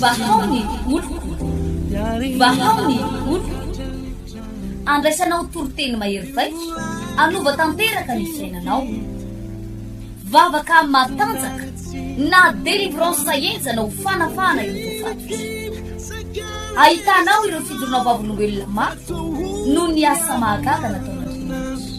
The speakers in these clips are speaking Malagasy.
Vahao ny oloko, vahao ny oloko, andraisanao toriteny mahery vaika, hanova tanteraka ny fiainanao. Vavaka matanjaka na délivrance henjana ho fanafahana ireo voafaty. Ahitanao ireo fijoroanao vavolombelona mafy noho ny asa mahagaga nataon'Andriamanitra.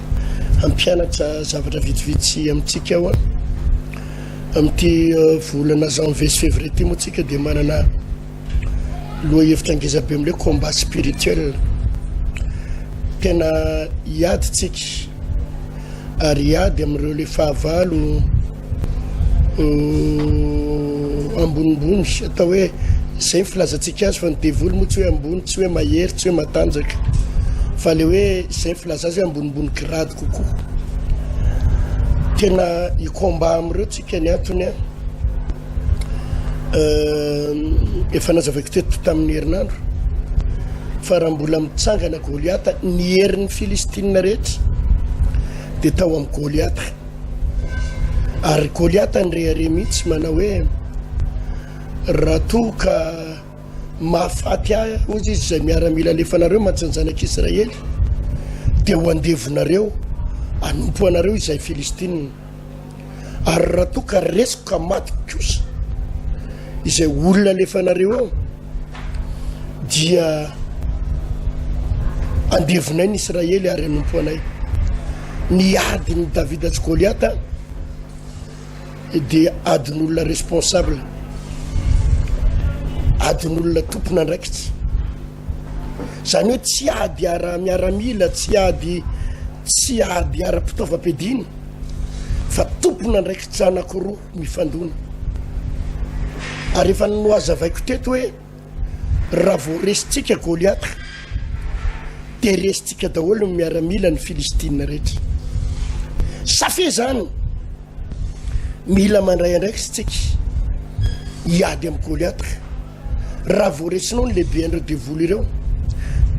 hampianatra zavatra vitsivitsy amintsika aho amin'ity euh, volana janvier sy février ty moa tsika dia manana loha hevitra angeza be amle combat spirituel tena hiaditsika ary hiady amin'ireo le fahavalo ambonimbony atao hoe izay ny filazantsika azy fa ny devoly moa tsy hoe ambony tsy hoe mahery tsy hoe matanjaka fa le hoe izay ny filaza azy hoe ambonimbony grady kokoa tena ikomba amin'ireo tsika ny antony a efa nazavaiko teto tamin'ny herinandro fa raha mbola mitsangana goliata ny herin'ny filistinina rehetra dia tao amin'ny goliata Ary Goliata nirehareha mihitsy manao hoe, Raha toa ka mahafaty ahy, hoy izy, izay miaramila alefanareo mantsy ny zanak'Israely, dia ho andevonareo hanompo anareo izay Filistina. Ary raha toa ka resiko ka maty kosa izay olona alefanareo eo, dia andevinay ny Israely ary anompo anay. Ny adin'i Davida sy Goliata dia adin'olona responsable, adin'olona tompon'andraikitra. Izany hoe tsy ady ara-miaramila, tsy ady tsy ady ara-pitaovam-piadiana fa tompon'andraikitra anankiroa. mifandona. Ary efa nohazavaiko teto hoe raha vao resintsika Goliata dia resintsika daholo ny miaramila ny Filistina rehetra. Safia izany, mila mandray andraikitsika hiady amin'ny Goliata. Raha vao resinao ny lehibean'ireo devoly ireo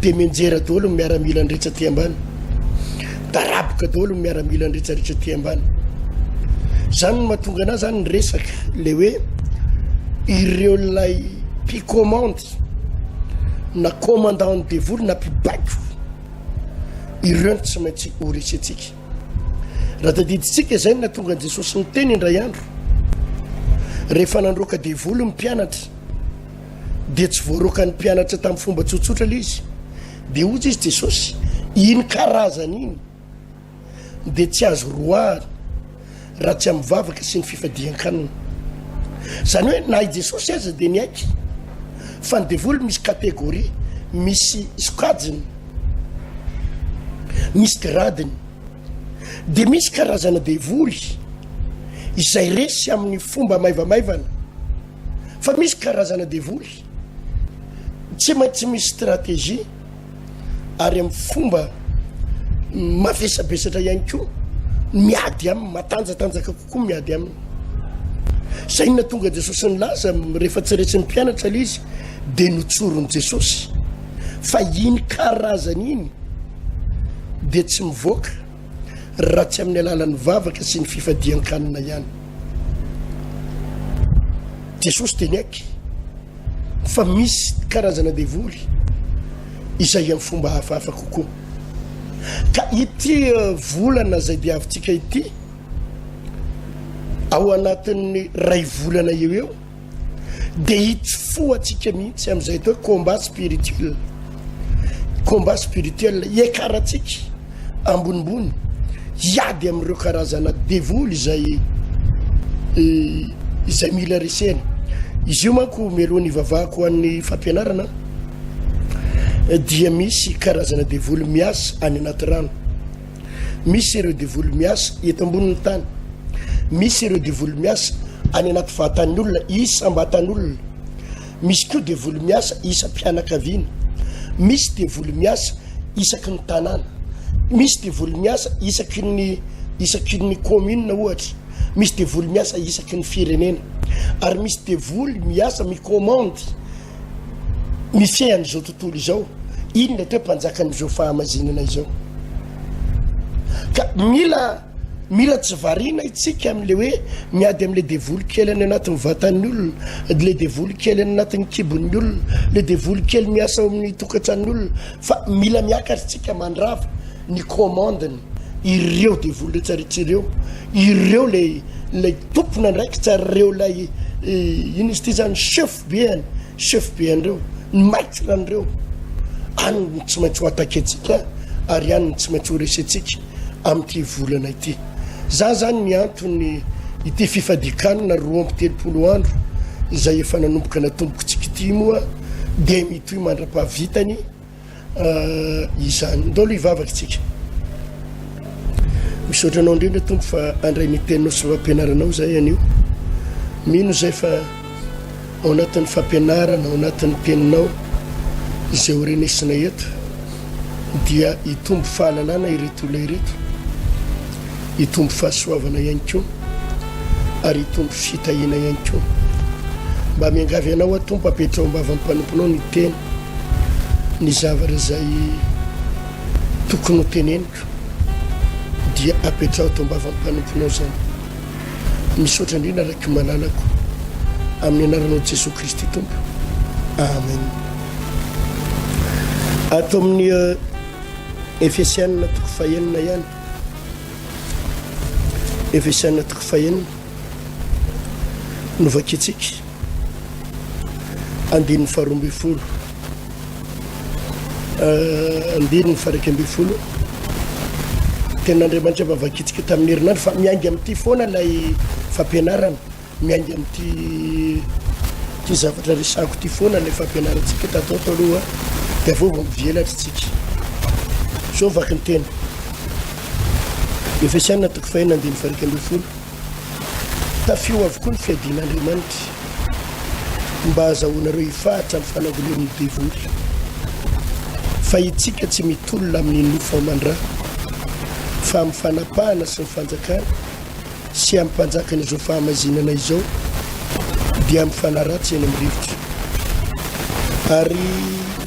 dia mianjera daholo ny miaramila ny rehetra aty ambany daraboka daholo ny miaramila ny rehetra rehetra aty ambany zany no mahatonga anah zany ny resaka le hoe ireo lay picommande na commandant ny devoly na mpibaiko ireo no tsy maintsy ho resentsika Raha tadidintsika izay no nahatonga an'i Jesosy niteny indray andro, rehefa nandroaka devoly ny mpianatra, dia tsy voaroaka ny mpianatra tamin'ny fomba tsotsotra ilay izy. Dia hoy izy Jesosy, iny karazany iny dia tsy azo roahana. raha tsy amin'ny vavaka sy ny fifadian-kanina. Izany hoe na i Jesosy aza dia niaiky fa ny devoly misy kategoria, misy sokajiny, misy gradiny. Dia misy karazana devoly izay resy amin'ny fomba maivamaivana, fa misy karazana devoly tsy maintsy misy stratégie. ary amin'ny fomba mavesabesatra ihany koa miady aminy matanjatanjaka kokoa miady aminy zay na tonga jesosy ny laza rehefa tsy resin'ny mpianatra la izy de notsoron'i jesosy fa iny karazany iny de tsy mivoaka raha tsy amin'ny alalan'ny vavaka sy ny fifadian-kanina ihany. Jesosy dia niaiky fa misy karazana devoly izay amin'ny fomba hafahafa kokoa. Ka ity eh, volana izay diavintsika ity, ao anatin'ny ray volana eo eo, Dia itsy fo antsika mihitsy amin'izay atao hoe combat spirituel. Combat spirituel, iakarantsika ambonimbony, hiady amin'ireo karazana devoly izay eh, izay mila resena. Izy io manko melohan'ny ivavahako ho an'ny fampianarana eh, dia misy karazana devoly miasa any anaty rano. Misy ireo devoly miasa eto ambonin'ny tany. Misy ireo devoly miasa any anaty vatan'ny olona isam-batan'olona. Misy koa devoly miasa isam-pianakaviana. Misy devoly miasa isaky ny tanàna. Misy devoly miasa isaky ny isaky ny commune ohatra. Misy devoly miasa isaky ny firenena. Ary misy devoly miasa mi-commande Mifehy an'izao tontolo izao, inona atao hoe mpanjakan'izao fahamazinana izao? Ka mila mila tsy variana itsika amin'ilay hoe miady amin'ilay devoly kely any anatin'ny vatan'ny olona, ilay devoly kely any anatin'ny kibon'ny olona, ilay devoly kely miasa ao amin'ny tokantran'ny olona, fa mila miakatra itsika mandrava ny commande-ny ireo devoly rehetra rehetra ireo, ireo ilay ilay tompon'andraikitra ireo ilay eh, inona izy ity zany chef Beany, chef bean'ireo, ny maitre an'ireo, any no tsy maintsy ho attaquer ntsika ary any no tsy maintsy ho resentsika amin'ity volana ity. Za zany mianto ny ity fifadikanana roa amby telopolo andro izay efa nanomboka natombokitsika ity moa dia mitohy mandra-pahavitany izany. Ndao aloha hivavaka tsika. Misaotra anao indrindra tompo fa andray ny teninao sy fampianaranao zay anio. Mino zay fa ao anatin'ny fampianarana, ao anatin'ny teninao izay ho renesina eto dia hitombo fahalalana ireto olona ireto, hitombo fahasoavana ihany koa ary hitombo fitahiana ihany koa. Mba miangavy anao atompo apetrao am-bavan'ny mpanomponao ny teny Ny zavatra izay tokony ho teneniko dia apetraho ato am-bavan'ny mpanomponao izany. Misaotra indrindra raiky malalako amin'ny anaranao Jesoa Kristy Tompo. Amen. Ato amin'ny eh, Efesianina toko fahenina ihany. Efesianina toko fahenina. Novakintsika. andininy faharoa ambin'ny folo eh, andininy faraika ambin'ny folo ten'andriamanitra vavakitsika tamin'ny herinandro fa miainga amin'ity foana ilay fampianarana miainga amin'ity ty zavatra resako ty foana ilay fampianarantsika tatao to aloha de aveo va mivelatra tsika zao vaky ny tena efa sianna toko fahina andiny faraika ambin'ny folo Tafio avokoa ny fiadian'Andriamanitra mba hahazahoanareo hifahatra amin'ny fanangonan'ny devoly. Fa itsika tsy mitolona amin'ny nofo aman-dra, fa amin'ny fanapahana sy ny fanjakana sy amin'ny mpanjakan'izao fahamaizinana izao, dia mifanaratsy eny amin'ny rivotra. Ary.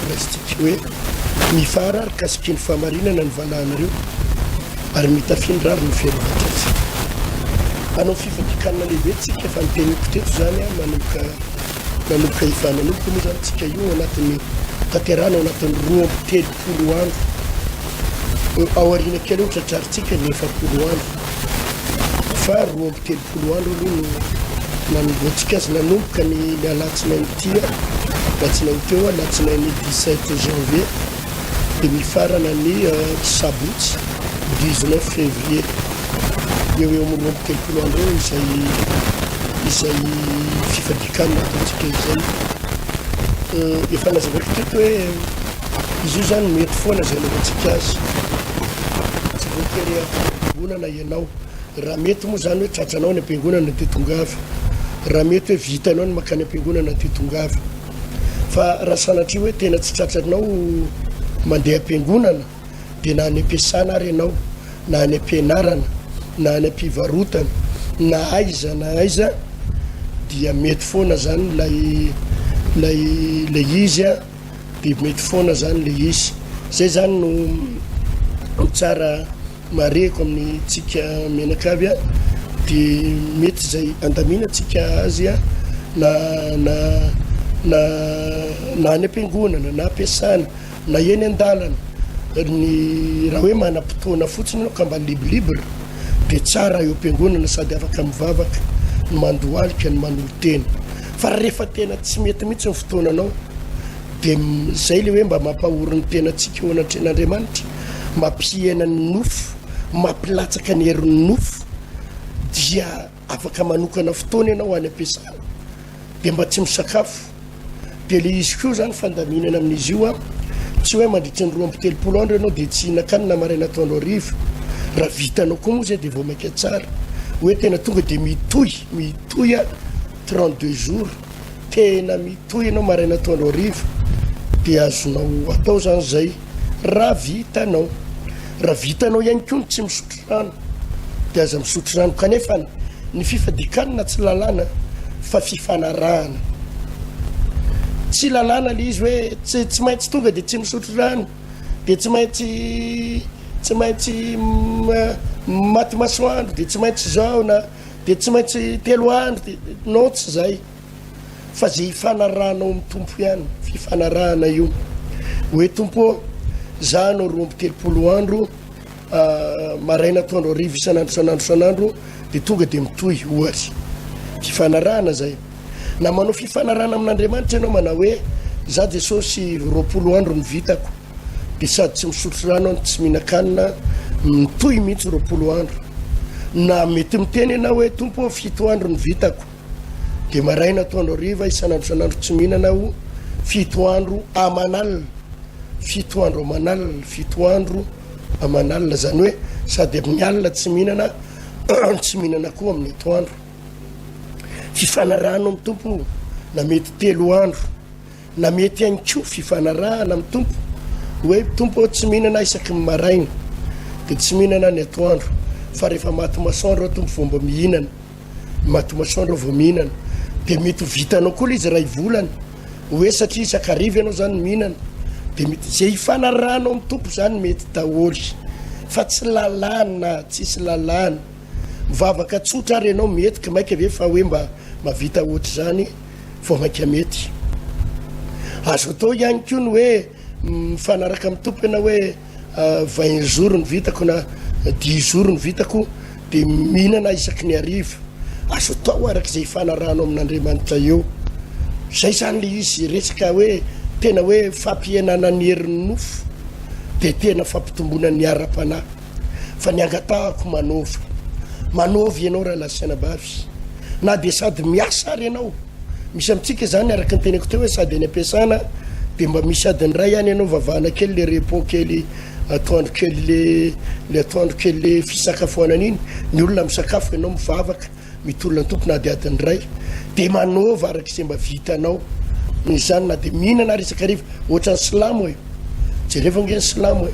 Kristy hoe, Mifara ary kasiky ny fahamarinana ny valahanareo, ary mitafin'ny rariny ny fiarovan-tsasy. Hanao fifandikanana lehibe tsika, efa noteniko teto izany, manomboka nanomboka efa nanomboka moa izany tsika io anatin'ny tanterana ao anatin'ny roa amby telopolo andro. Ao aoriana kely eo tratrarintsika ny efapolo andro. Fa roa amby telopolo Roa andro aloha no nanombohantsika azy, nanomboka ny ny alatsinainy ty a, alatsinainy teo, alatsinainy dix sept janvier de mifarana ny sabotsy dix neuf fevrier, eo eo amin'ny roa amby telopolo andro eo izay izay fifadikanana ataontsika izay. Efa nazavaiko teto hoe izy io zany mety foana izay anaovantsika azy, tsy voatery hampidi-bolana ianao. Raha mety moa izany hoe tratranao any am-piangonana dia tongava. Raha mety hoe vitanao ny mankany am-piangonana dia tongava. Fa raha sanatria hoe tena tsy tratranao mandeha am-piangonana dia na any am-piasana ary ianao, na any am-pianarana, na any am-pivarotana, na aiza na aiza dia mety foana izany ilay ilay ilay izy a, dia mety foana izany ilay izy. Izay izany no no tsara Marihiko amintsika menaka avy an, dia mety izay andaminantsika azy an, na na na na any am-piangonana, na am-piasana, na eny an-dalana, ny raha hoe manam-potoana fotsiny ianao ka mba libre libre, dia tsara eo am-piangonana sady afaka mivavaka, ny mandohalika, ny manolo-tena. Fa rehefa tena tsy mety mihitsy ny fotoananao, dia izay ilay hoe mba mampahory ny tenantsika eo anatrehan'Andriamanitra, mampihena ny nofo, mampilatsaka ny herin'ny nofo, dia afaka manokana fotoana ianao any am-piasana, dia mba tsy misakafo. Dia le izy koa zany fandaminana amin'izy io an, tsy hoe mandritra ny roa amby telopolo andro ianao dia tsy hihinan-kanina maraina atoandro hariva. Raha vitanao koa moa zay dia vao mainka tsara hoe tena tonga dia mitohy, mitohy an, trente deux jours. Tena mitohy ianao maraina atoandro hariva dia azonao atao zany zay raha vitanao. Raha vitanao ihany koa ny tsy misotro rano dia aza misotro rano kanefa ny fifadikanana tsy lalàna fa fifanarahana. Tsy lalàna le izy hoe tsy tsy maintsy tonga dia tsy misotro rano dia tsy maintsy tsy maintsy maty masoandro dia tsy maintsy zao na Dia tsy maintsy telo andro, non tsy izay, fa izay ifanarahanao amin'ny Tompo ihany, fifanarahana io, hoe Tompo ô, izaho hanao roa amby telopolo andro, maraina, atoandro, hariva, isan'andro, isan'andro, isan'andro, dia tonga dia mitohy, ohatra. Fifanarahana izay. Na manao fifanarahana amin'Andriamanitra ianao, manao hoe, izaho Jesosy roapolo andro no vitako, Dia sady tsy misotro rano an, tsy mihinan-kanina mitohy mihitsy roapolo andro. Na mety miteny ianao hoe tompo ô fito andro ny vitako. Dia maraina atoandro hariva isan'andro isan'andro tsy mihinana aho fito andro aman'alina. Fito andro aman'alina, fito andro aman'alina. Izany hoe sady amin'ny alina tsy mihinana, tsy mihinana koa amin'ny atoandro. Fifanarahano amin'ny tompo na mety telo andro. Na mety ihany koa fifanarahana amin'ny Tompo, hoe, Tompo ô, tsy mihinana isaky ny maraina, dia tsy mihinana ny atoandro, fa rehefa maty masoandro aho Tompo vao mba mihinana, maty masoandro aho vao mihinana. Dia mety ho vitanao koa ilay izy iray volana, hoe, satria isan-kariva ianao izany mihinana, dia mety, izay ifanarahanao amin'ny Tompo izany mety daholo, fa tsy lalàna, tsisy lalàna. Mivavaka tsotra ary ianao mety, ka mainka ve fa hoe mba mahavita ohatr'izany. vao mainka mety. Azo atao ihany koa ny hoe mifanaraka amin'ny tompo ianao hoe vingt jours ny vitako na dix jours ny vitako dia mihinana isaky ny hariva. Azo atao araka izay ifanarahanao amin'Andriamanitra eo. Izay izany ilay izy resaka hoe tena hoe fampihenana ny herin'ny nofo dia tena fampitomboana ny ara-panahy. fa ny angatahako manova manova ianao raha nasaina bavy na dia sady miasa ary ianao misy amintsika izany araka ny teneko teo hoe sady any ampiasana dia mba misy adiny iray ihany ianao vavahana kely le repo kely atoandro kely le le atoandro kely le fisakafoanana iny ny olona misakafo ianao mivavaka Mitolona ny Tompo na dia adiny iray dia manaova araka izay mba vitanao noho izany na dia mihinana ary isakariva ohatran'ny silamo e jereo ve ny silamo e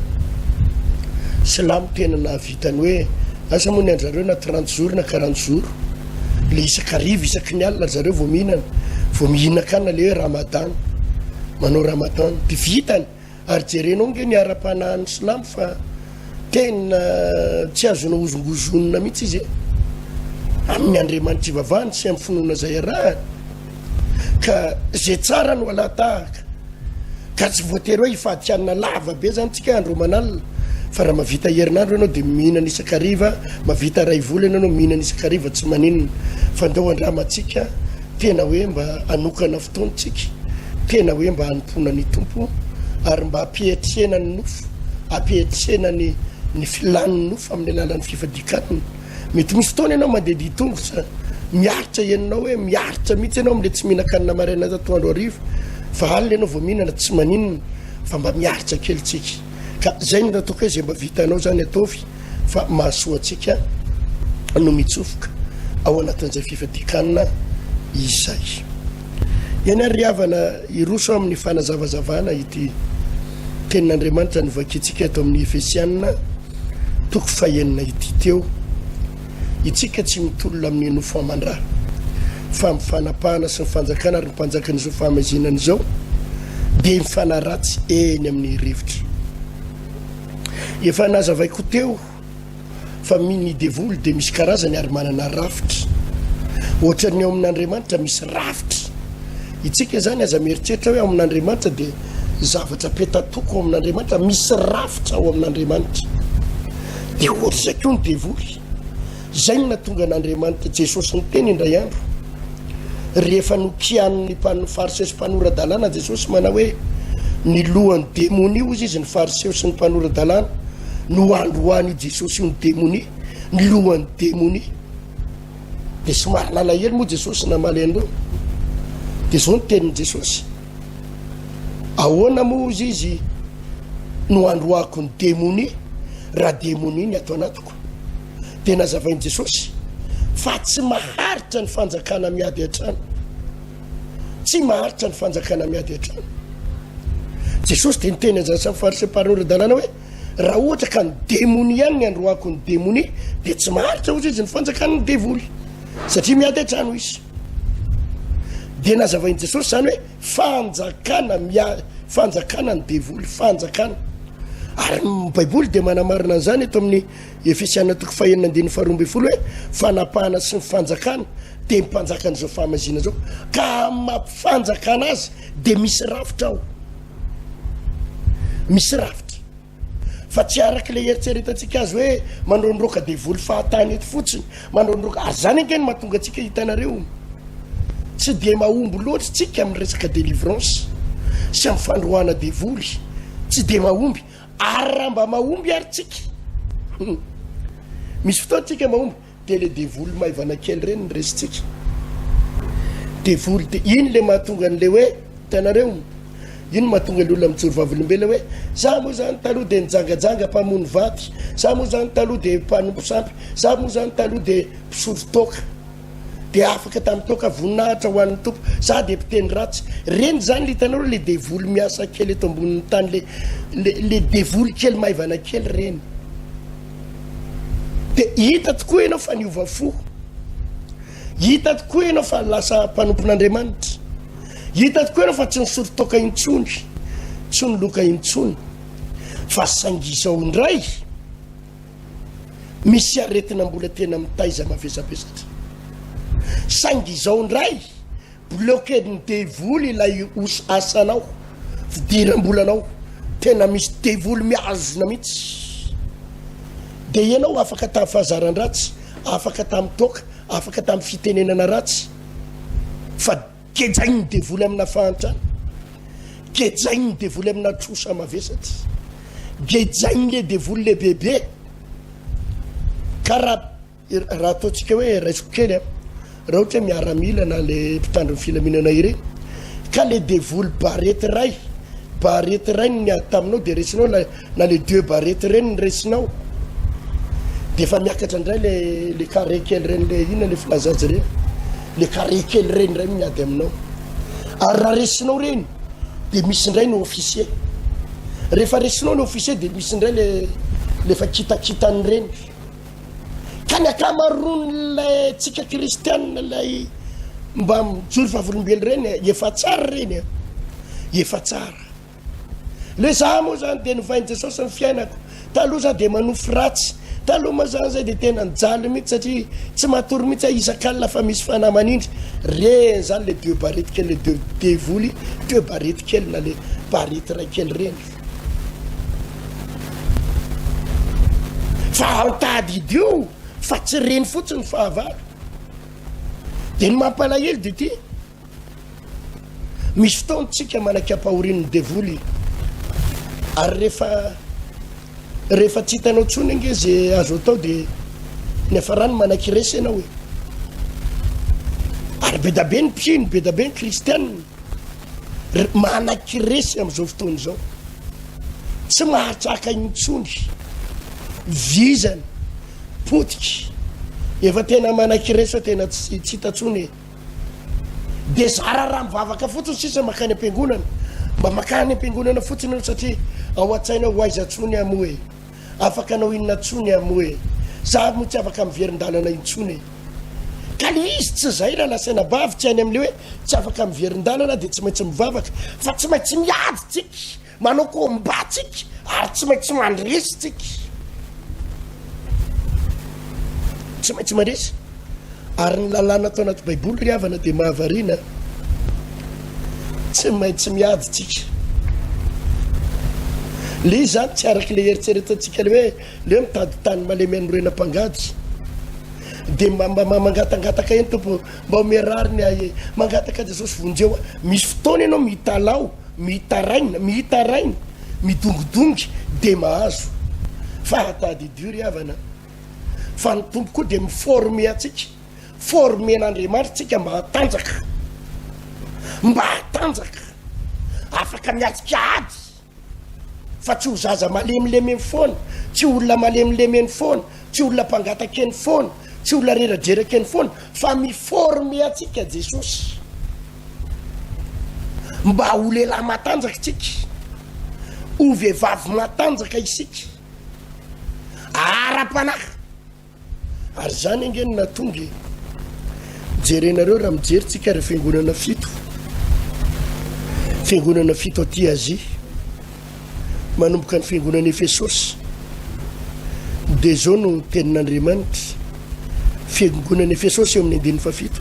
silamo tena nahavitany hoe asa moa ny anjareo na trente jours na quarante jours le isakariva isaky ny alina zareo vao mihinana vao mihinakana le hoe ramadana manao ramadana dia vitany Ary jerenao ange ny ara-panahin'ny Slam fa tena tsy azo naozongozonina mihitsy izy e! Amin'ny Andriamanitra ivavahany sy amin'ny finoana izay arahany ka izay tsara no alahatahaka ka tsy voatery hoe hifadikanina lava be izany tsika andro aman'alina fa raha mavita herinandro ianao dia mihinana isakariva, mavita raivola ianao mihinana isakariva tsy maninona fa ndao andramantsika Tena hoe mba hanokana fotoantsika, tena hoe mba hanompoana ny Tompo ary mba hampiatrehana ny nofo, hampiatrehana ny ny filan'ny nofo amin'ny alalan'ny fifadian-kanina. Mety misy fotoana ianao mandedia tongotra, miaritra henonao hoe miaritra mihitsy ianao amin'ilay tsy mihinan-kanina maraina atoandro hariva, fa alina ianao vao mihinana, tsy maninona, fa mba miaritra kely tsika. Ka zay no nataoko hoe zay mba vitanao zany ataovy fa mahasoa antsika no mitsofoka ao anatin'izay fifadikanana izay. Eny ary ry havana, hiroso amin'ny fanazavazavana ity tenin'Andriamanitra novakintsika eto amin'ny Efesianina toko fahenina ity teo. Itsika tsy mitolona amin'ny nofo aman-dra, fa amin'ny fanapahana sy ny fanjakana ary ny mpanjakan'izao fahamaizina izao dia mifanaratsy eny amin'ny rivotra. Efa nazavaiko teo fa ny devoly dia misy karazany ary manana rafitra. Ohatran'ny ao amin'Andriamanitra misy rafitra. Itsika izany aza mieritreritra hoe ao amin'Andriamanitra dia zavatra petatoko ao amin'Andriamanitra, misy rafitra ao amin'Andriamanitra. Dia ohatra izay koa ny devoly. Izay no natonga an'Andriamanitra Jesosy niteny indray andro, rehefa nokianin'ny Fariseo sy mpanora-dalàna Jesosy manao hoe, Ny lohan'ny demonia, hozy izy, ny Fariseo sy ny mpanora-dalàna, no androany i Jesosy io ny demonia, ny lohan'ny demonia. Dia somary nalahelo moa Jesosy namaly an'ireo. Dia izao ny tenin'i Jesosy. Ahoana moa ozy izy no handroahako ny demonia raha demonia ny ato anatiko? Dia nazavain'i Jesosy fa tsy maharitra ny fanjakana miady hatrany. Tsy maharitra ny fanjakana miady hatrany. Jesosy dia niteny an'izany samy fariseo mparina ireo dalana hoe raha ohatra ka ny demonia ihany ny androahako ny demonia dia tsy maharitra ozy izy ny fanjakan'ny devoly satria miady hatrany izy. Dia nazavain'i Jesosy izany hoe fanjakana mia, fanjakana ny devoly, fanjakana. Ary ny Baiboly dia manamarina an'izany eto amin'ny Efesiana toko fahenina andininy faharoa ambin'ny folo hoe fanapahana sy ny fanjakana dia ny mpanjakan'izao fahamaizina izao ka amin'ny mampifanjakana azy dia misy rafitra ao, misy rafitra. Fa tsy araka ilay eritreretantsika azy hoe mandrondroka devoly fahatany eto fotsiny, mandrondroka ary zany ange no mahatonga antsika hitanareo tsy dia mahomby loatra tsika amin'ny resaka délivrance sy amin'ny fandroahana devoly, tsy dia mahomby ary raha mba mahomby ary tsika hmm. misy fotoantsika mahomby Tele devoly maivana kely reny ny resintsika. Devoly dia iny le mahatonga an'le hoe hitanareo iny mahatonga le olona mijoro vavolombelona hoe za moa zany taloha dia nijangajanga mpamono vaty, za moa zany taloha dia mpanompo sampy, za moa zany taloha dia mpisolo toaka dia afaka tamin'ny toaka voninahitra ho an'ny tompo, za dia mpiteny ratsy. Reny zany le hitanareo le devoly miasa kely eto ambonin'ny tany le le, le devoly kely maivana kely reny. Dia hita tokoa ianao fa niova fo. Hita tokoa ianao fa lasa mpanompon'Andriamanitra. Hita tokoa ianao fa tsy nisory toaka intsony, tsy niloka intsony. Fa saingy izao indray, misy aretina mbola tena mitaiza mavesabesatra. Saingy izao indray, Blocked ny devoly ilay os asanao fidirambolanao tena misy devoly mihazona mihitsy de ianao afaka tamin'ny fahazaran-dratsy afaka tamin'ny toaka afaka tamin'ny fitenenana ratsy fa gejain'ny devoly amina fahantrana gejain'ny devoly amina trosa mavesatra gejain'le devoly le bebe karaha Raha ataontsika hoe raisiko kely a, raha ohatra hoe miaramila na le mpitandro ny filaminana irery ka le devoly barety iray, barety iray no niady taminao de resinao ilay na le deux barety ireny no resinao de efa miakatra indray le le carré kely ireny le inona le filaza azy ireny le carré kely ireny indray no miady aminao ary raha resinao ireny de misy indray ny officier rehefa resinao ny officier de misy indray le le efa kitakitan'ireny Ka ny akamaroan'ilay tsika kristianina ilay mba mijoro vavolombelo ireny efa tsara ireny a efa tsara le za moa zany de novain'i jesosy ny fiainako taloha za de manofy ratsy taloha moa zany zay de tena nijaly mihitsy satria tsy matory mihitsy a isan-kalina fa misy fanahy manindry reny zany le deux barety kely le deux devoly deux barety kely na le barety iray kely reny Fa ao tadidy io fa tsy reny fotsiny ny fahavalo. Dia ny mampalahelo dia ity, misy fotoana tsika manaky ampahorian'ny devoly ary rehefa rehefa tsy hitanao tsony ange ze azo atao dia ny afarany manaky resy ianao e. Ary bedabe ny mpino, bedabe ny kristianina Manaky resy amin'izao fotoana izao, tsy mahatraka intsony, vizana, potika, efa tena manaky resy fa tena tsy tsy hita intsony e. Dia zara raha mivavaka fotsiny sisa makany am-piangonana, mba makany am-piangonana fotsiny ianao satria ao an-tsaina ho aiza intsony aho moa e, afaka anao inona intsony aho moa e, za moa tsy afaka miverin-dalana intsony e. Ka le izy tsy izay raha nasaina bavy tsy any amin'ilay hoe Tsy afaka miverin-dalana dia tsy maintsy mivavaka fa tsy maintsy miady tsika, manao combat tsika ary tsy maintsy mandresy tsika. Tsy maintsy mandresy. Ary ny lalàna tao anaty baiboly ry havana dia mahavariana, tsy maintsy miady tsika. Le izy zany tsy araka le eritreretantsika le hoe le hoe mitady tany malemy anorenam-pangady. Dia mba mangatangataka eny tompo Mba omeo rariny ahy e. Mangataka Jesosy vonjeo aho. Misy fotoana ianao mitalaho, mitaraina, mitaraina, midongidongy dia mahazo. Fa tadidio ry havana fa ny Tompo koa dia mi-former antsika. Formen'Andriamanitra tsika mba hatanjaka, mba hatanjaka, afaka miatrika ady. fa tsy ho zaza malemilemy eny foana, tsy olona malemilemy eny foana, tsy olona mpangataka eny foana, tsy olona reradreraka eny foana, fa mi-former antsika Jesosy mba ho lehilahy matanjaka isika, ho vehivavy matanjaka isika, ara-panahy. Ary izany ange no nahatonga e! Jerenareo raha mijery tsika ireo fiangonana fito, fiangonana fito aty Azia, manomboka ny fiangonana Efesosy, dia izao no tenin'Andriamanitra, fiangonana Efesosy eo amin'ny andininy fafito,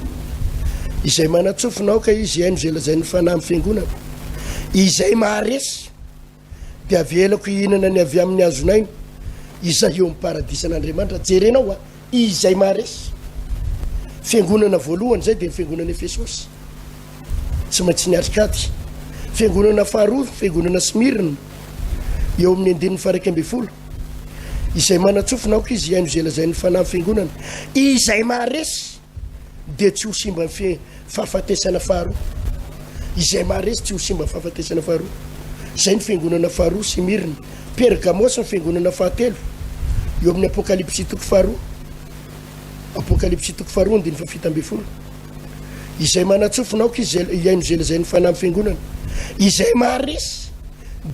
izay manatsofina aoka izy haino izay lazain'ny fanahy amin'ny fiangonana, izay maharesy, dia avelako hihinana ny avy amin'ny hazon'aina, izay eo amin'ny paradisan'Andriamanitra. Jerenao a! Izay maharesy. Fiangonana voalohany izay dia ny fiangonana Efesosy. Tsy maintsy niatrika ady. Fiangonana faharoa, fiangonana Smirna, eo amin'ny andininy faraika ambin'ny folo. Izay manantsofina aoka izy hihaino izay lazain'ny fanahy ny fiangonana. Izay maharesy. dia tsy ho simba ny fahafatesana faharoa. Izay maharesy tsy ho simba ny fahafatesana faharoa. Izay ny fiangonana faharoa, Simirna. Pergamosy ny fiangonana fahatelo, eo amin'ny Apokalypsy toko faharoa. Apokalypsy toko faharoa andiny fafita ambin'ny folo. Izay manatsofina aoka izy hihaino izay lazain'ny fanahy amin'ny fiangonana. Izay maharesy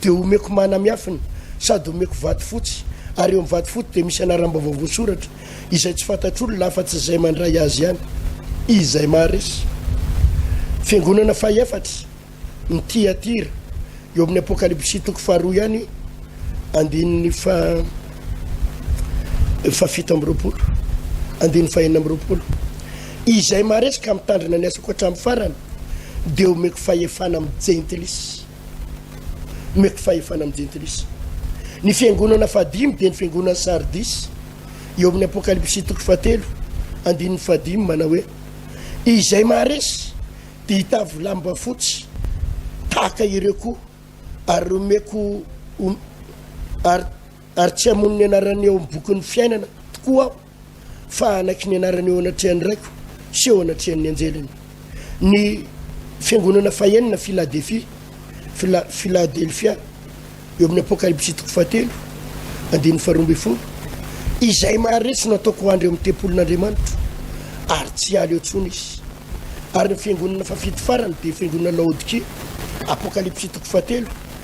dia homeko mana miafina sady homeko vato fotsy ary eo amin'ny vato fotsy dia misy anaram-baovao voasoratra Izay tsy fantatr'olona afa-tsy izay mandray azy ihany, izay maharesy. Fiangonana fahefatra, ny Tiatira, eo amin'ny Apokalypsy toko faharoa ihany, andininy faha fahafito amby roapolo, andininy fahenina amby roapolo. Izay maharesy ka mitandrina ny asako hatramin'ny farany, dia omeko fahefana amin'ny jentilisa. Nomeko fahefana amin'ny jentilisa. Ny fiangonana fahadimy dia ny fiangonan'i Sardisy, eo amin'ny Apokalypsy toko fahatelo, andininy fahadimy, manao hoe, Izay maharesy dia hitavy lamba fotsy tahaka ireo koa, ary omeko ho, ary, ary tsy hamono ny anarany eo amin'ny bokin'ny fiainana tokoa aho. fa hanaky ny anarany eo anatrehan'ny Raiko sy eo anatrehan'ny anjeliny. Ny fiangonana fahenina Filadefia, Fila, Filadelfia, eo amin'ny Apokalypsy toko fahatelo, andininy faharoa ambin'ny folo, izay maharesy no ataoko hoandry eo amin'ny tempolin'Andriamanitro, ary tsy hiala eo tsony izy. Ary ny fiangonana fafito farany dia fiangonana Laodikia, Apokalypsy toko fahatelo,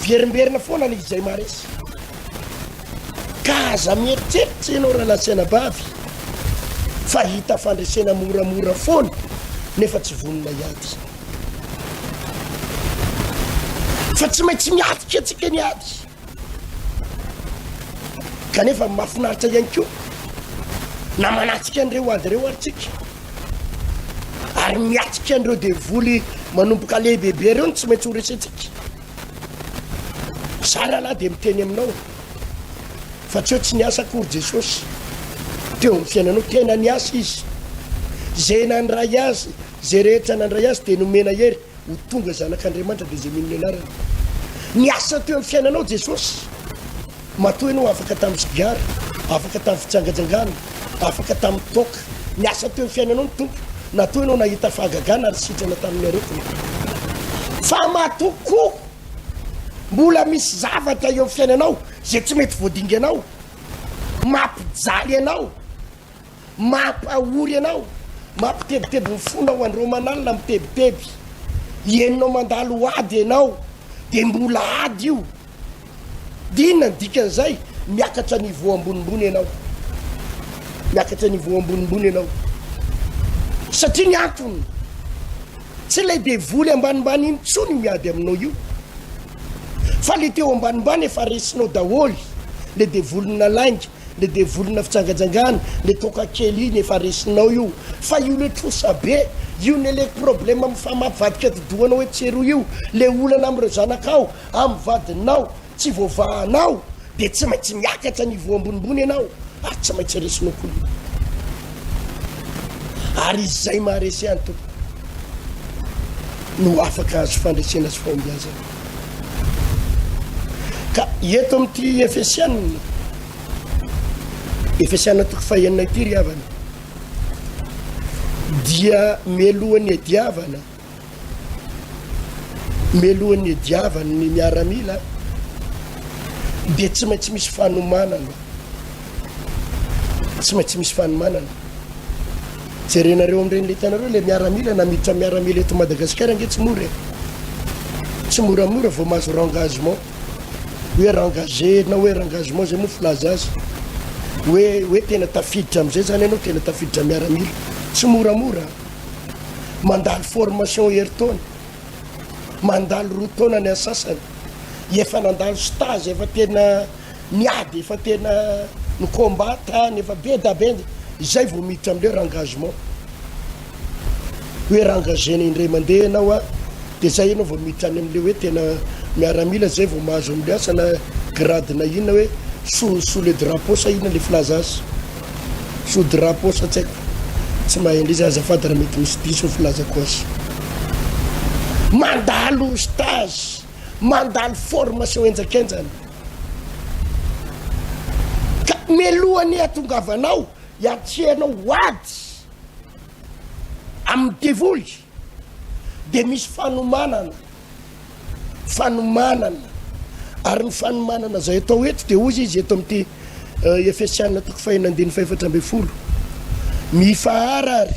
Miverimberina foana ny izay maharesy. Ka aza mieritreritra ianao raha nasaina bavy fa hita fandresena moramora foana nefa tsy vonona hiady. Fa tsy maintsy miatrika antsika ny ady. Kanefa mahafinaritra ihany koa na manatsika an'ireo ady ireo ary tsika ary miatsika an'ireo devoly manomboka lehibebe ireo no tsy maintsy ho resentsika za rahalahy dia miteny aminao fa tsy eo tsy niasa akory jesosy teo amin'ny fiainanao tena niasa izy zay nandray azy zay rehetra nandray azy dia nomena hery Ho tonga zanak'Andriamanitra dia izay mino ny anarany. Niasa teo amin'ny fiainanao Jesosy. Matoa ianao afaka tamin'ny sigara, afaka tamin'ny fijangajangana, afaka tamin'ny toaka. Niasa teo amin'ny fiainanao ny Tompo. Natoa ianao nahita fahagagana ary sitrana tamin'ny aretina. Fa matoa koa mbola misy zavatra eo amin'ny fiainanao izay tsy mety voadinganao, mampijaly anao. Mampahory anao, mampitebiteby ny fonao andro manalina mitebiteby, henonao mandalo ho ady enao de mbola ady io de inona ny dikan'izay? Miakatra niveau ambonimbony enao, miakatra niveau ambonimbony enao satria ny antony tsy ilay devoly ambanimbany intsony io miady aminao io fa le teo ambanimbany efa resinao daholy le devolin'ny nalainga le devolina fijangajangana le toaka kely iny efa resinao io fa io le trosa be io ne le problème am fa mavadika didohanao etsy sy eroa io le olana amreo zanakao am vadinao tsy voavahanao de tsy maintsy miakatra niveau ambonimbony ianao ary tsy maintsy resinao koa io ary izay maharesy any tompoko no afaka azo fandresena sy fahombiazana Ka eto amin'ity Efesiana, Efesiana toko fahenina ity ry havana, dia melohan'ny ediavana, melohan'ny ediavana ny miaramila, dia tsy maintsy misy fanomanana. tsy maintsy misy fanomanana jerenareo am'ireny le tanareo le miaramila na miditra miaramila eto madagasikara ange tsy mora e tsy moramora vao mahazo rengagement hoe rengage na hoe rengagement zay moa filaza azy hoe hoe tena tafiditra am'izay zany ianao tena tafiditra miaramila tsy moramora mandalo formation heritaona mandalo roa taona ny asasany efa nandalo stazy efa tena ny ady efa tena ny combat tany efa be da be zay vao miditra amle rengagement hoe rengager-na indray mandeha ianao a de zay ianao vao miditra any amle hoe tena miaramila zay vao mahazo amle asa na grade na inona hoe sous sous le drapeau sa inona le filaza azy sous drapeau sa tsy haiko tsy mahay anle izy azafady raha mety misy diso ny filazako azy mandalo stage mandalo formation henjakenjana ka mialohan'ny hatongavanao hiantsehanao ho ady amin'ny devoly dia misy fanomanana fanomanana ary ny fanomanana izay atao eto dia ozy izy eto amin'ity euh, efesiana toko fahina andiny fahefatra ambin'ny folo mifaharary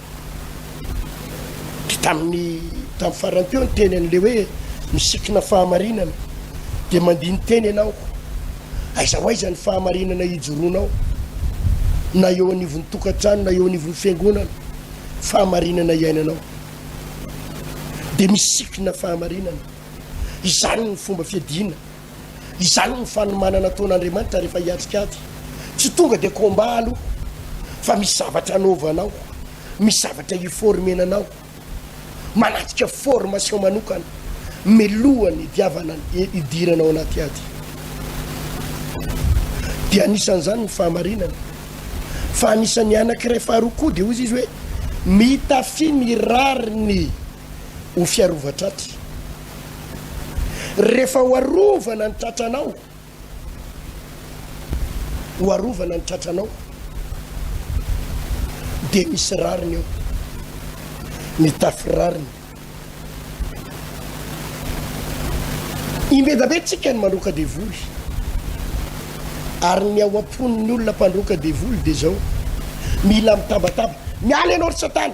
Tamin'ny tamin'ny farany teo ny teny an'ilay hoe misikina fahamarinana dia mandini-teny ianao. Aiza ho aiza ny fahamarinana hijoroanao na eo anivon'ny tokantrano na eo anivon'ny fiangonana fahamarinana iainanao dia misikina fahamarinana. Izany ny fomba fiadiana. Izany no fanomanana ataon'Andriamanitra rehefa hiatrika ady. Tsy tonga dia combat aloha fa misy zavatra anaovanao, misy zavatra iformenanao, manatrika formation manokana milohan'ny hidiavana hidirana ao anaty ady. Dia anisan'izany ny fahamarinana. Fa anisan'ny anankiray faharoa koa dia hoy izy hoe mitafy ny rariny ho fiarovan-tratry. Rehefa ho arovana ny tratranao, ho arovana ny tratranao, dia misy rariny eo, mitafy rariny. Imbedabe tsika ny mandroaka devoly, ary ny ao am-pon'ny olona mpandroaka devoly dia zao, mila mitabataba, miala ianao ry satana,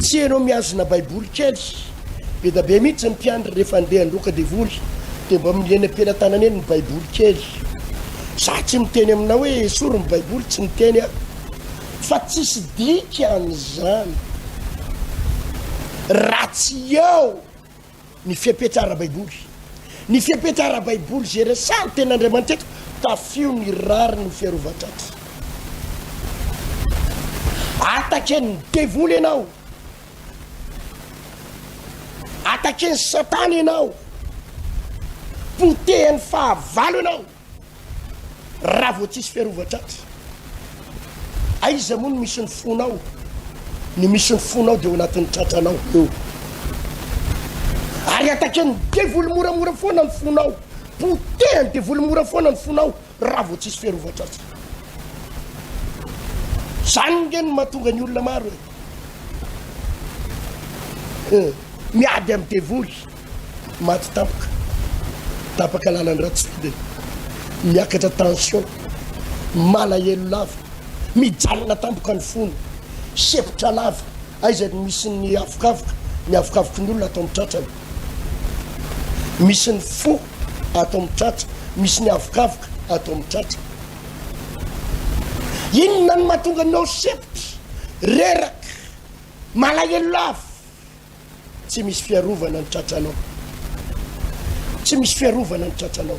Tsy enao mihazona baiboly kely. Bedabe mihitsy ny mpiandry rehefa andeha handroaka devoly dia mba minia eny am-pelatanana eny ny baiboly kely. Za tsy miteny aminao hoe esory ny baiboly tsy miteny aho fa tsisy dikany zany raha tsy eo Ny fepetra ara-baiboly. Ny fepetra ara-baiboly izay resahan'ny Tenin'Andriamanitra eto, tafio ny rariny ho fiarovan-dratsy. Ataken'ny devoly ianao, ataken'i Satana ianao, potehan'ny fahavalo ianao. Raha vao tsisy fiarovan-tratra, aiza moa no misy ny fonao? Ny misy ny fonao dia ao anatin'ny tratranao eo. Ary ataken'ny devoly moramora foana ny fonao. Potehan'ny devoly mora foana ny fonao raha vao tsisy fiarovan-tratra. Zany nge no mahatonga ny olona maro e. Eh, miady amin'ny devoly. Maty tapaka, tapaka lalan-dRatsy be, miakatra tension, malahelo lava, mijanona tampoka ny fony, sempotra lava aiza no misy ny avokavoka, ny avokavoky ny olona ato amin'ny tratrany, misy ny fo ato amin'ny tratra, misy ny avokavoka ato amin'ny tratra. Inona no mahatonga anao sempotra, reraka, malahelo lava? Tsy misy fiarovana ny tratranao. Tsy misy fiarovana ny tratranao.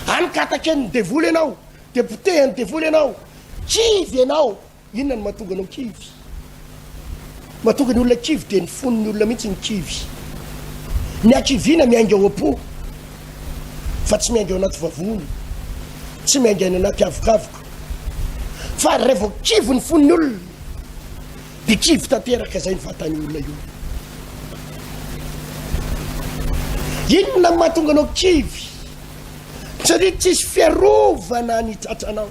Any ka ataken'ny devoly ianao, dia potehan'ny devoly ianao. Kivy ianao. Inona no mahatonga anao kivy? Mahatonga ny olona kivy dia ny fon'ny olona mihitsy ny kivy. Ny hakiviana miainga ao am-po fa tsy miainga ao anaty vavony, tsy miainga any anaty avokavoka. Fa raha vao kivy ny fon'ny olona Dia kivy tanteraka izay ny vatan'io olona io. Inona no mahatonga anao kivy? Satria tsisy fiarovana ny tratranao.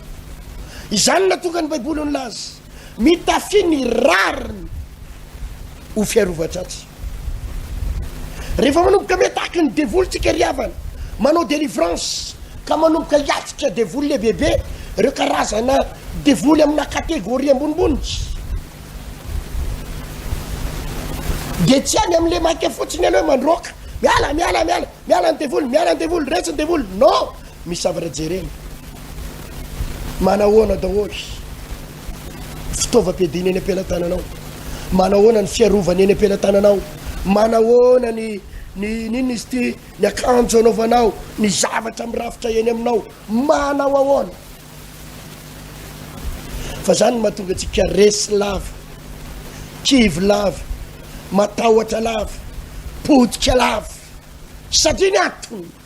Izany natonga ny Baiboly nilaza, mitafy ny rariny ho fiarovan-tratsy. Rehefa manomboka miataky ny devoly tsika ry havana, manao delivrance ka manomboka hiatrika devoly lehibebe, ireo karazana devoly amina categorie ambonimbony, dia tsy any amin'ilay maika fotsiny ianao mandroaka, miala, miala, miala, miala ny devoly, miala ny devoly, resy ny devoly, non! Misy zavatra jerena. Manahoana daholo. fitaovam-piadiana eny am-pelatananao? Manahoana ny fiarovana eny am-pelatananao? Manahoana ny ny n'inona izy ity ny akanjo anaovanao, ny zavatra mirafitra eny aminao, manao ahoana? Fa zany no mahatonga antsika resy lava, kivy lava, matahotra lava, potika lava satria ny antony.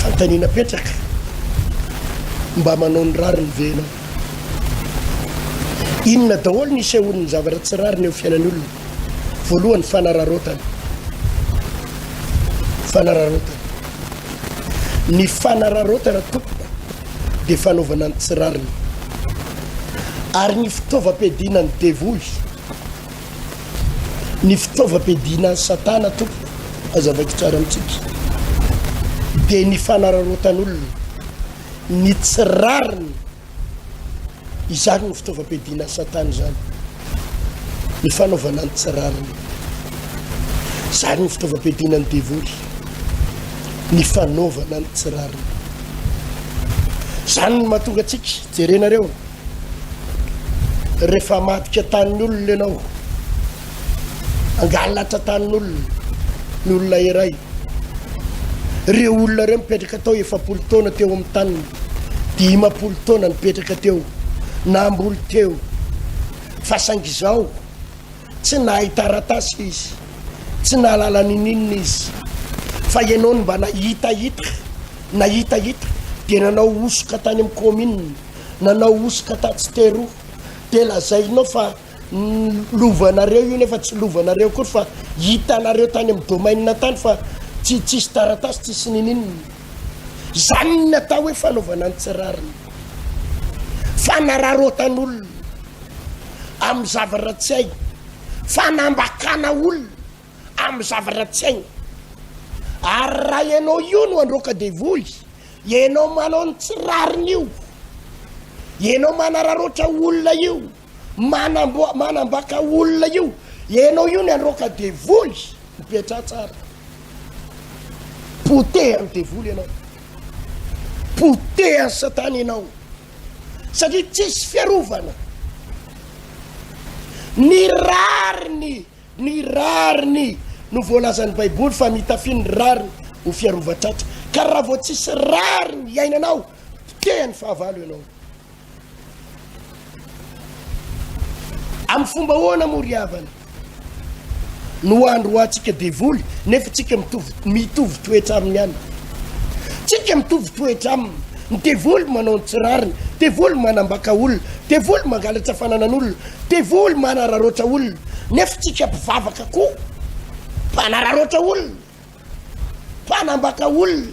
Fanontaniana apetraka, mba manao ny rariny ve ianao? Inona daholo ny isehoan'ny zavatra tsy rariny eo fiainan'ny olona? Voalohany, fanararaotana. Fanararaotana. Ny fanararaotana tompoko dia fanaovana ny tsy rariny. Ary ny fitaovam-piadiana ny devoly ny fitaovam-piadiana an'i Satana tompoko, hazavaiko tsara amintsika, dia ny fanararaotan'olona, ny tsy rariny, izany no fitaovam-piadiana an'i Satana izany, ny fanaovana ny tsy rariny, izany no fitaovam-piadiana ny devoly, ny fanaovana ny tsy rariny, izany no mahatonga antsika, jerenareo. Rehefa hamadika tanin'olona ianao, hangalatra tanin'olona ny olona iray, ireo olona ireo mipetraka tao efapolo taona teo amin'ny taniny, dimampolo taona nipetraka teo, namboly teo, fa saingy izao tsy nahay taratasy izy, tsy nahalala nininona izy, fa ianao no mba nahitahita, nahitahita dia nanao hosoka tany amin'ny kaominina. Nanao hosoka tatsy teroa de lazainao fa lovanareo io nefa tsy lovanareo akory fa hitanareo tany amin'ny domaine tany fa tsy tsisy taratasy tsisy nininona izany ny atao hoe fanaovana ny tsy rariny fanararotan'olona amin'ny zavatra tsy hay fanambakana olona amin'ny zavatra tsy hainy. Ary raha ianao io no androaka devoly, ianao manao ny tsy rariny io, ianao manararoatra olona io, manamboa, manambaka olona io, ianao io ny androaka devoly, mipetraha tsara. Potehan'ny devoly ianao. Potehan'ny satana ianao. Satria tsisy fiarovana. Ny rariny Ny rariny no voalazan'ny Baiboly fa nitafiany ny rariny ho fiarovan-tratra. Ka raha vao tsisy rariny iainanao, potehan'ny fahavalo ianao. Amin'ny fomba ahoana moa ry havana no hoandroantsika devoly nefa tsika mitovy mitovy toetra aminy ihany? Tsika mitovy toetra aminy. Ny devoly manao ny tsy rariny, devoly manambaka olona, devoly mangalatra fananan'olona, Devoly manararaotra olona nefa tsika mpivavaka koa mpanararaotra olona, mpanambaka olona,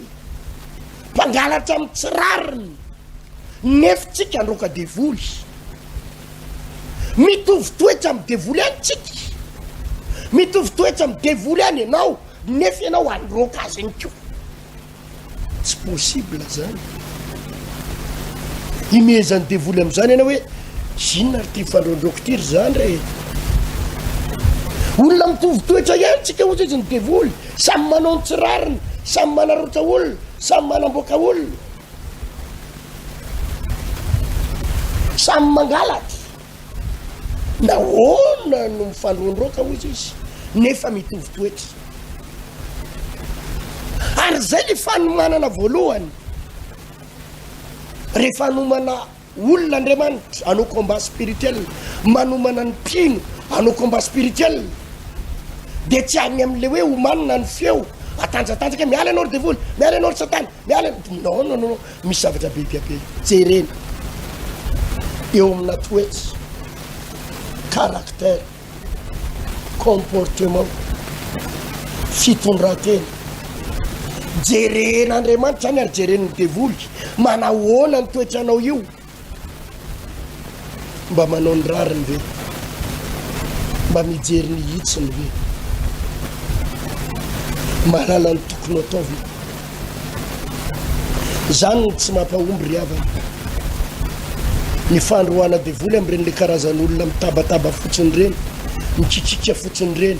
mpangalatra amin'ny tsy rariny nefa tsika androaka devoly. Mitovy toetra amin'ny devoly ihany tsika, mitovy toetra amin'ny devoly ihany ianao nefa ianao androaka azy ihany koa. Tsy possible zany. Himehezan'ny devoly am'zany ianao hoe inona ry ty fandrondroko ty ry zandry e. Olona mitovy toetra ihany tsika ohatra izy ny devoly, samy manao ny tsy rariny, samy manarotra olona, samy manamboaka olona. Samy mangalatra. Nahoana no mifandroandroaka, hoy izy, nefa mitovy toetra? Ary izay ilay fanomanana voalohany. Rehefa hanomana olona Andriamanitra, hanao combat spirituel, manomana ny mpino, hanao combat spirituel, dia tsy any amin'ilay hoe omanina ny feo, atanjatanjaka, miala ianao ry devoly, miala ianao ry Satana. Miala ny dingana ao no misy zavatra be dia be jerena eo amina toetsy caractère comportement fitondratena jeren'Andriamanitra any ary jeren'ny devoly manahoana ny toetranao io Mba manao ny rariny ve? Mba mijery ny hitsiny ve? Mahalala ny tokony atao ve? Izany no tsy mampahomby ry havana. Ny fandroana devoly amin'ireny le karazan'olona mitabataba fotsiny ireny, mikikiaka fotsiny ireny.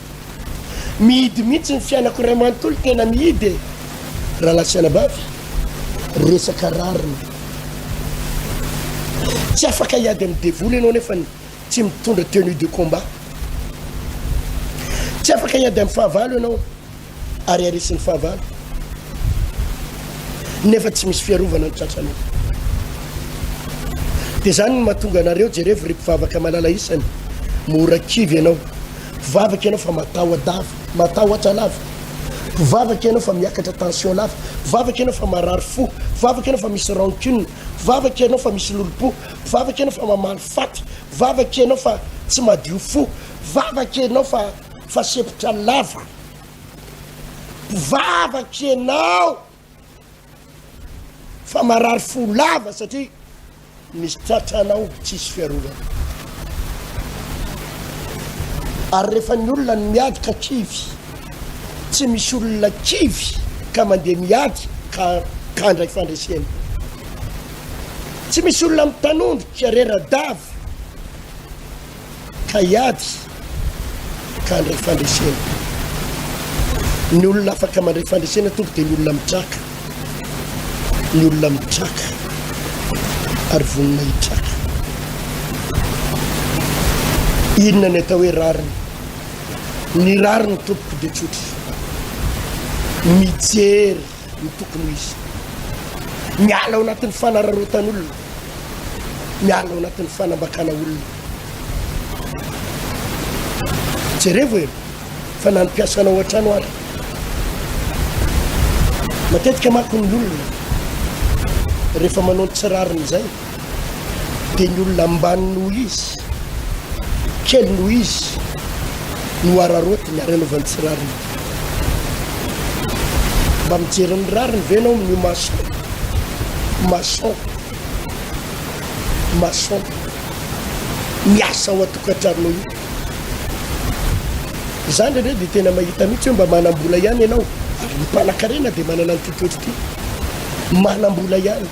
Mihidy mihitsy ny fianako ray manontolo tena mihidy e! Rahalahy sy anabavy, resaka rariny. Tsy afaka hiady amin'ny devoly ianao nefany tsy mitondra tenue de combat. Tsy afaka hiady amin'ny fahavalo ianao. Ary arisy ny fahavalo nefa tsy misy fiarovana ny tratranao. Dia izany no mahatonga anareo, jerevo ry mpivavaka malala isany, mora kivy ianao. Mpivavaka ianao fa mataho-dava, matahotra lava. Mpivavaka ianao fa miakatra tension lava. Mpivavaka ianao fa marary fo. Mpivavaka ianao fa misy rancune. Mpivavaka ianao fa misy lolompo. Mpivavaka ianao fa mamaly faty. Mpivavaka ianao fa tsy madio fo. Mpivavaka ianao fa fa sepotra lava. mpivavaka ianao fa marary fo lava satria misy tratranao tsisy fiarovana ary rehefa ny olona ny miady ka kivy tsy misy olona kivy ka mandeha miady ka kandray fandresena tsy misy olona mitanondrika rera-davy ka hiady ka handray fandresena. Ny olona afaka mandray fandresena tompoko dia ny olona mitraka, ny olona mitraka ary vonona hitraka. Inona ny atao hoe rariny? Ny rariny tompoko dia tsotra, mijery no tokony ho izy. Miala ao anatin'ny fanararaotan'olona, miala ao anatin'ny fanambakana olona. Jerevo e, fa na ny mpiasanao ao an-trano ary. Matetika manko ny olona rehefa manao ny tsy rariny izay. dia ny olona ambany noho izy, kely noho izy no araraotiny ary anaovany tsy rariny. Mba mijery ny rariny ve ianao amin'io mason? Mason. Mason. Miasa ao an-tokantranonao io. Izany indray dia tena mahita mihitsy hoe mba manam-bola ihany ianao. Ary ny mpanan-karena dia manana an'ity toetra ity. Manam-bola ihany.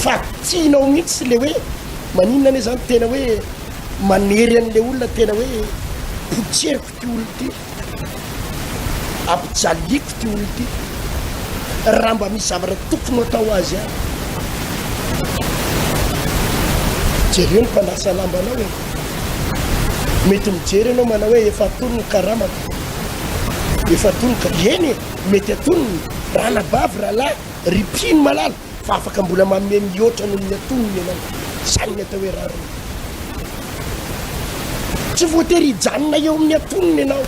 fa tianao mihitsy le hoe maninona anie zany tena hoe manery an'le olona tena hoe potseriko ty olo ty ampijaliako ty olo ty raha mba misy zavatra tokony atao azy any jereo ny mpandrasa lambanao e mety mijery anao manao hoe efa atony ny karamako efa atony ka eny e mety atony raha nabavy rahalahy Ry mpino malala fa afaka mbola manome mihoatra noho ny atonony ianao. Izany ny atao hoe rariny. Tsy voatery hijanona eo amin'ny atonony ianao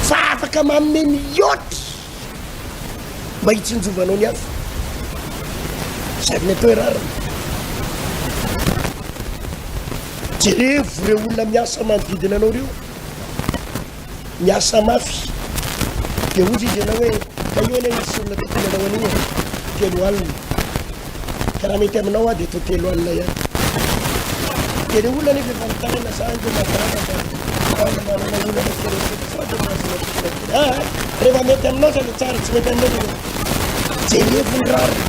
fa afaka manome mihoatra mba hitsinjovanao ny hafa. Izany ny atao hoe rariny. Jerevo ireo olona miasa manodidina anao ireo. Miasa mafy. Dia hoy izy ianao hoe, ka io anie nisy olona tokony hanao an'io e! Telo alina. Ka raha mety aminao aho dia toa telo alina ihany. Dia ilay olona anefa efa mitaraina sa ange mahatarana fa aona manana olona mety resaka sao dia mahazo matotra kely. Ah, rehefa mety aminao izany tsara, tsy mety aminao dia jerevo ny rariny.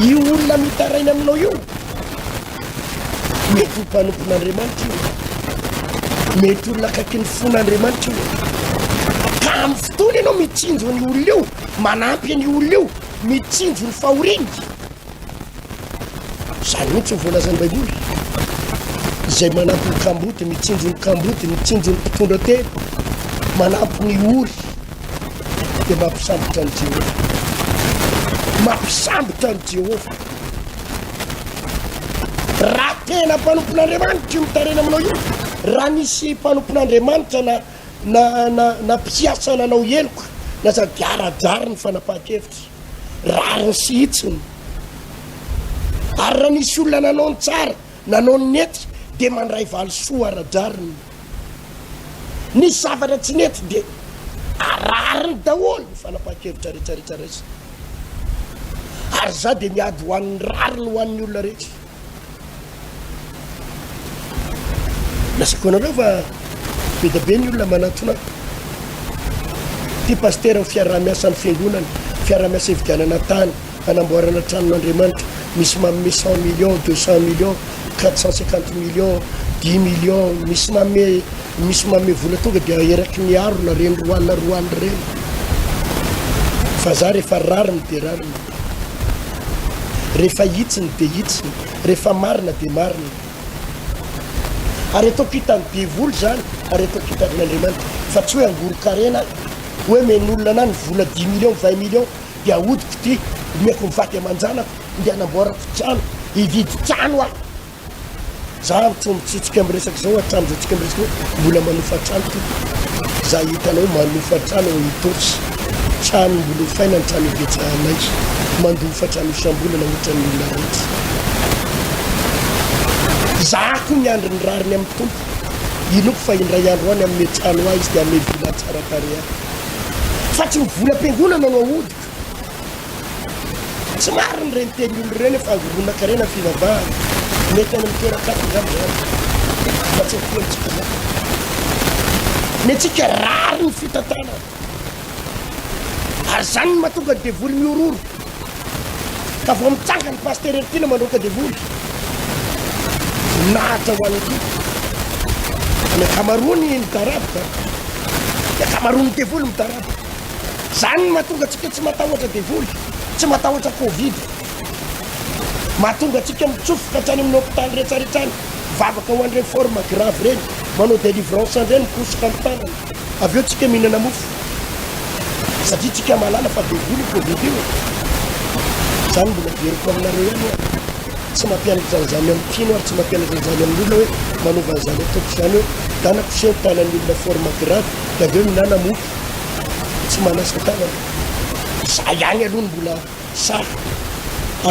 Io olona mitaraina aminao io Mety ho mpanompon'Andriamanitra io. Mety olona akaiky ny fon'Andriamanitra io. Ka amin'ny fotoana ianao mitsinjo ny olona io, manampy ny olona io, mitsinjo ny fahoriany. Izany mihitsy ny voalazan'ny Baiboly. Izay manampy ny kamboty, mitsinjo ny kamboty, mitsinjo ny mpitondra tena, manampy ny ory, dia mampisambotra an'i Jehovah. Mampisambotra an'i Jehovah. Raha tena mpanompon'Andriamanitra io mitarena aminao io, raha nisy mpanompon'Andriamanitra na na na na mpiasa nanao heloka na sady arajary ny fanapahan-kevitra, rariny sy hitsiny. Ary raha nisy olona nanao ny tsara, nanao ny nety, dia mandray valisoa ara-drariny. Ny zavatra tsy nety dia arariny daholo ny fanapahan-kevitra rehetra rehetra raisina. Ary izaho dia miady ho an'ny rariny ho an'ny olona rehetra. Lazaiko anareo fa be dia be ny olona manatona ahy. Ity pasitera ny fiaraha-miasan'ny fiangonana, fiaraha-miasa hividianana tany, Hanamboarana tranon'Andriamanitra misy manome cent millions, deux cent millions, quatre cent cinquante millions, dix millions, misy manome misy manome vola tonga dia eraky ny harona ireny roanina roanina ireny. Fa za rehefa rariny dia rariny. Rehefa hitsiny dia hitsiny, rehefa marina dia marina. Ary ataoko hitan'ny devoly zany, ary ataoko hitan'Andriamanitra fa tsy hoe angoron-karena hoe men'olona na ny vola dix millions, vingt millions Dia ahodiko ity, omeko ny vady aman-janako ndeha hanamboarako trano, hividy trano aho. Za mitsoa mitsitsika am resaka zao hatram zao tsika miresaka hoe mbola manofa trano ty za hitanao manofa trano ao Itaosy trano mbola hofaina ny trano ibetsahanay mandofa trano isambolana otran ny olona retsy za ko miandry ny rariny am tompo inoko fa indray andro any amne trano ahy izy de ame villa tsara tareha fa tsy ny vola am-piangonana no ahodik tsy marina ireny teny olona ireny fa angoronan-karena ny fivavahana mety any amin'ny toeran-kafa izany izany fa tsy aty amintsika izany ny antsika rariny fitantanana ary izany ny mahatonga ny devoly mihororo Ka vao mitsangana i Pasitera Herim-piana mandroaka devoly. Voninahitra ho an'i Koto. Fa ny ankamaroany midaraboka. Ny ankamaroan'ny devoly midaraboka. Izany no mahatonga antsika tsy matahotra devoly, tsy matahotra Covid. Mahatonga antsika mitsofoka hatrany amin'ny hopitaly rehetra rehetra any, mivavaka ho an'ireny forme grave ireny, manao délivrance an'ireny, mikosoka ny tanana. Avy eo tsika mihinana mofo satria tsika mahalala fa be voa ny covid io e! Zany mbola averiko aminareo ihany hoe tsy mampianatra an'izany amin'ny mpino ary tsy mampianatra an'izany amin'ny olona hoe manaova an'izany ataoko izany hoe dana koseo ny tanan'ny olona forme grave dia avy eo mihinana mofo tsy manasa tanana. Za ihany aloha no mbola sahy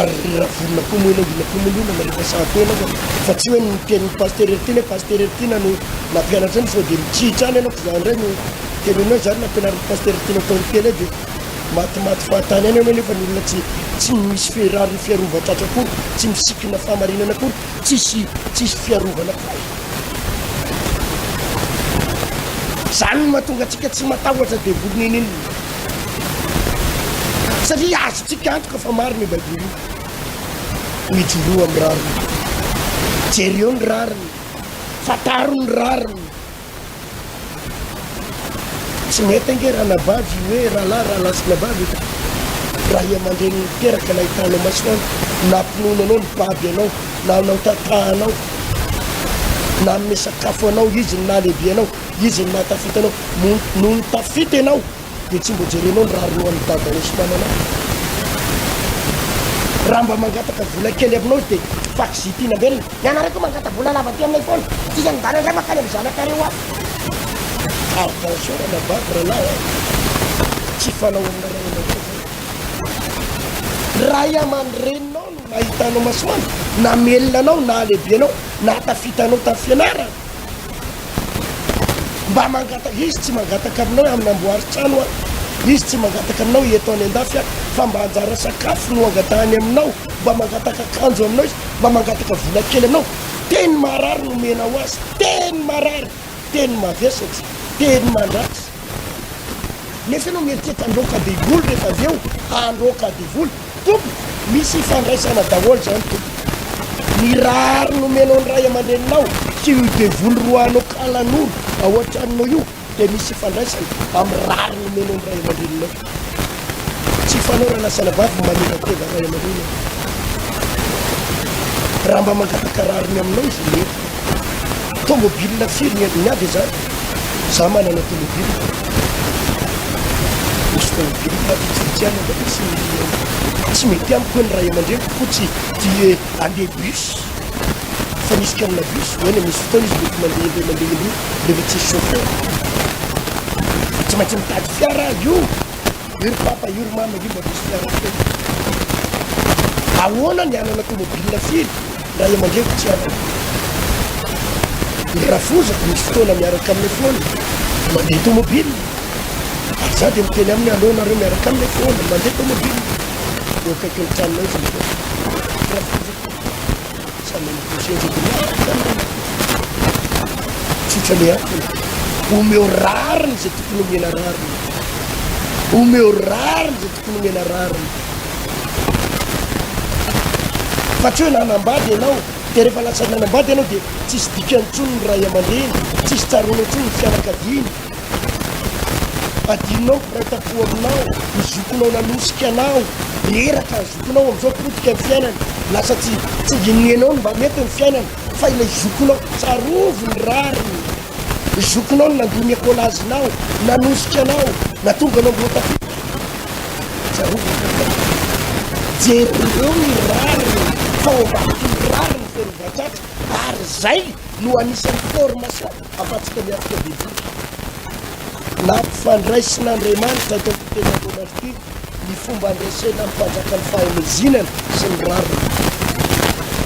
ary ny ravorona koa moa ilay mila komonina na rehefa sahy tena aza fa tsy hoe ny tenin'ny pasitera ery ty ilay pasitera ery ty na no nampianatra ny sao dia mitsihitra any ianao fa za indray no tenenina hoe zany nampianarin'ny pasitera tianao tao ny tele dia matimaty fahatany any ianao nefa ny olona tsy tsy misy fiarary fiarovan-tratra akory tsy misikina fahamarinana akory tsisy tsisy fiarovana akory zany mahatonga antsika tsy matahotra devoly ninin Satria azontsika antoka fa marina io Baiboly io. Mijoroa amin'ny rariny. Jereo ny rariny. Fantaro ny rariny. Tsy mety ange ranabavy io hoe rahalahy rahalahy sy nabavy eto. Raha i aman-dreny niteraka na hitanao masoandro na mpinono anao ny baby anao na anao tatahanao na hanome sakafo anao izy ny nahalehibe anao Izy no mahatafita anao. Nony tafita ianao dia tsy mbo jerenao ny rarinoan'ny dadanao sy mamanao. Raha mba mangataka vola kely aminao izy dia fax ity nambelona. Ianareo koa mangata vola lava aty aminay foana. Dika ny dada ndray makany amin'ny zanakareo any. Attention ranabavy ralahy a! Tsy fanao amina ray aman-dreny izany. Ray aman-dreninao no nahita anao masoandro, namelona anao, nahalehibe anao, nahatafita anao tamin'ny fianarana. Mba mangataka izy tsy mangataka aminao hamnamboary trano aho, izy tsy mangataka aminao hieto any andafy aho fa mba anjara sakafo no angatahany aminao, mba mangataka akanjo aminao izy, mba mangataka vola kely aminao, teny marary no omena ho azy, teny marary, teny mavesatra, teny mandratra. Nefa ianao mieritreritra handroaka devoly rehefa avy eo handroaka devoly tompoko misy ifandraisana daholo zany tompoko ny rariny nomenao ny ray aman-dreninao sy io devoly roahanao kalanoro ao an-tranonao io dia misy ifandraisana amin'ny rariny nomenao ny ray aman-dreninao Tsy fanaorana sanabavy ny manevateva ray aman'olona e! Raha mba mangataka rariny aminao izy ny mety. Tômôbilina firy ny endriny avy izany? Za manana tômôbilina. Misy tômôbilina vitsivitsihana mba misy ny endriny. Tsy mety amiko hoe ny ray aman-dreniko koa tsy tia handeha bus. Fa misy karina bus, eny misy fotoana izy mety mandeha indray mandeha indroa rehefa tsisy chauffeur. Tsy maintsy mitady. Fiara io io ry papa io ry mama io mba misy fiara feno tomobil. Ahoana ny hanana tomobil firy ray aman-dreniko tsy hanana. Ny rafozako misy fotoana miaraka amin'ny foana mandeha tomobil. Ary za dia miteny aminy aleo nareo miaraka amin'ny foana mandeha tomobil eo akaikin'ny tranonay izy mifoana. Rafozako. Samy amin'ny bousee-nje de miaraka izany ny olona. Tsy tsalehako. Omeo rariny izay tokony omena rariny. Omeo rariny izay tokony omena rariny. Fa tsy hoe nanambady ianao dia rehefa lasa nanambady ianao dia tsisy dikany intsony ny ray aman-dreny, tsisy tsaroana intsony ny fianakaviany. Adinonao ny mpiraiki-tampo aminao, ny zokinao nanosika anao, reraka, zokinao amin'izao potika ny fiainany, lasa tsy tsy ininie anao ny mba mety ny fiainany fa ilay zokinao, tsarovy ny rariny, ny zokinao no nandoa ny ekolazinao, nanosika anao, natonga anao mbola tafita, tsarovy ny rariny, jereo ny rariny fa ao ambadiky ny rariny feno voatratra ary izay no anisan'ny formation. Afatsika miatrika bebaka nampifandraisin'Andriamanitra eto amin'ny teny voalohany ity ny fomba andresena amin'ny mpanjaka ny fahamezinana sy ny rariny.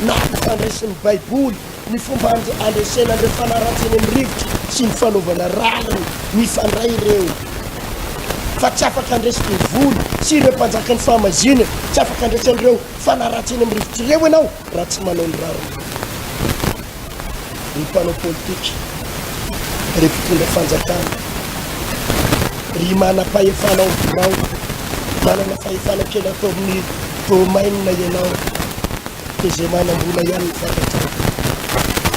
Nampifandraisin'ny Baiboly ny fomba andresena an'ireo mpanaratsy eny amin'ny rivotra sy ny fanaovana rariny. Mifandray ireo. Fa tsy afaka handresy devoly sy ireo mpanjaka ny fahamazinana, tsy afaka handresy an'ireo mpanaratsy eny amin'ny rivotra ireo ianao raha tsy manao ny rariny. ry mpanao politika, ry mpitondra fanjakana, ry manam-pahefana ao birao, manana fahefana kely ataon'ny domaine ianao, dia izay manam-bola ihany no fantatrao.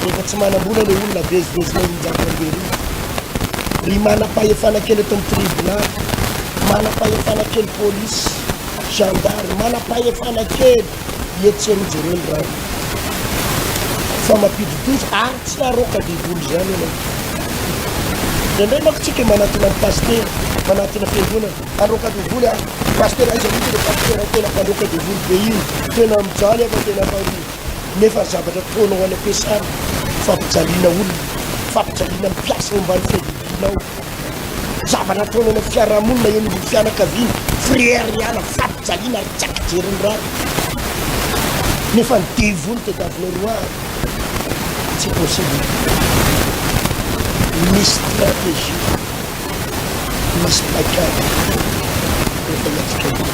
Rehefa tsy manam-bola ilay olona vezivezinao injato amberivo. Ry manam-pahefana kely eto amin'ny tribonaly, manam-pahefana kely polisy, gendarme, manam-pahefana kely Etsy anie jereo ny rano fa mampidi-doza ary tsy aroaka devoly izany ianao. Indraindray manko tsika manatona ny pasitera, manatona fiangonana, aroaka devoly ary pasitera aiza mihitsy ilay pasitera tena mpandroaka devoly be iny, tena mijaly aho fa tena atao nefa ry zavatra ataonao any am-piasana fampijaliana olona, fampijaliana mpiasa ao ambany fiadidianao. Zavatra ataony any amin'ny fiarahamonina eny ambony fianakaviana, frère ihany, fampijaliana ary tsy ampy jeriny rano. Nefa ny devoly teto Avinerois an! Tsy possible. Misy stratégie, misy paikady efa hiatrika an'io.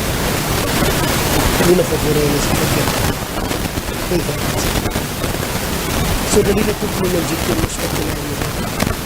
Mila fa voarain'ny stratégie. Efa tsy. Federaly tokony ny anjely tena sokajiana an'io.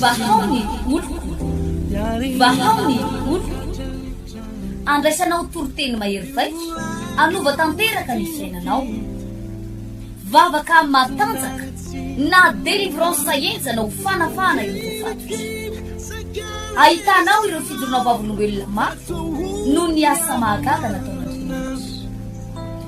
Vahao ny oloko, vahao ny oloko, andraisanao toriteny mahery vaika, hanova tanteraka ny fiainanao. Vavaka matanjaka na délivrance enjana ho fanafahana ireo voafatotry. Ahitanao ireo fijoroana vavolombelona mafy noho ny asa mahagaga nataon'Andriamanitra.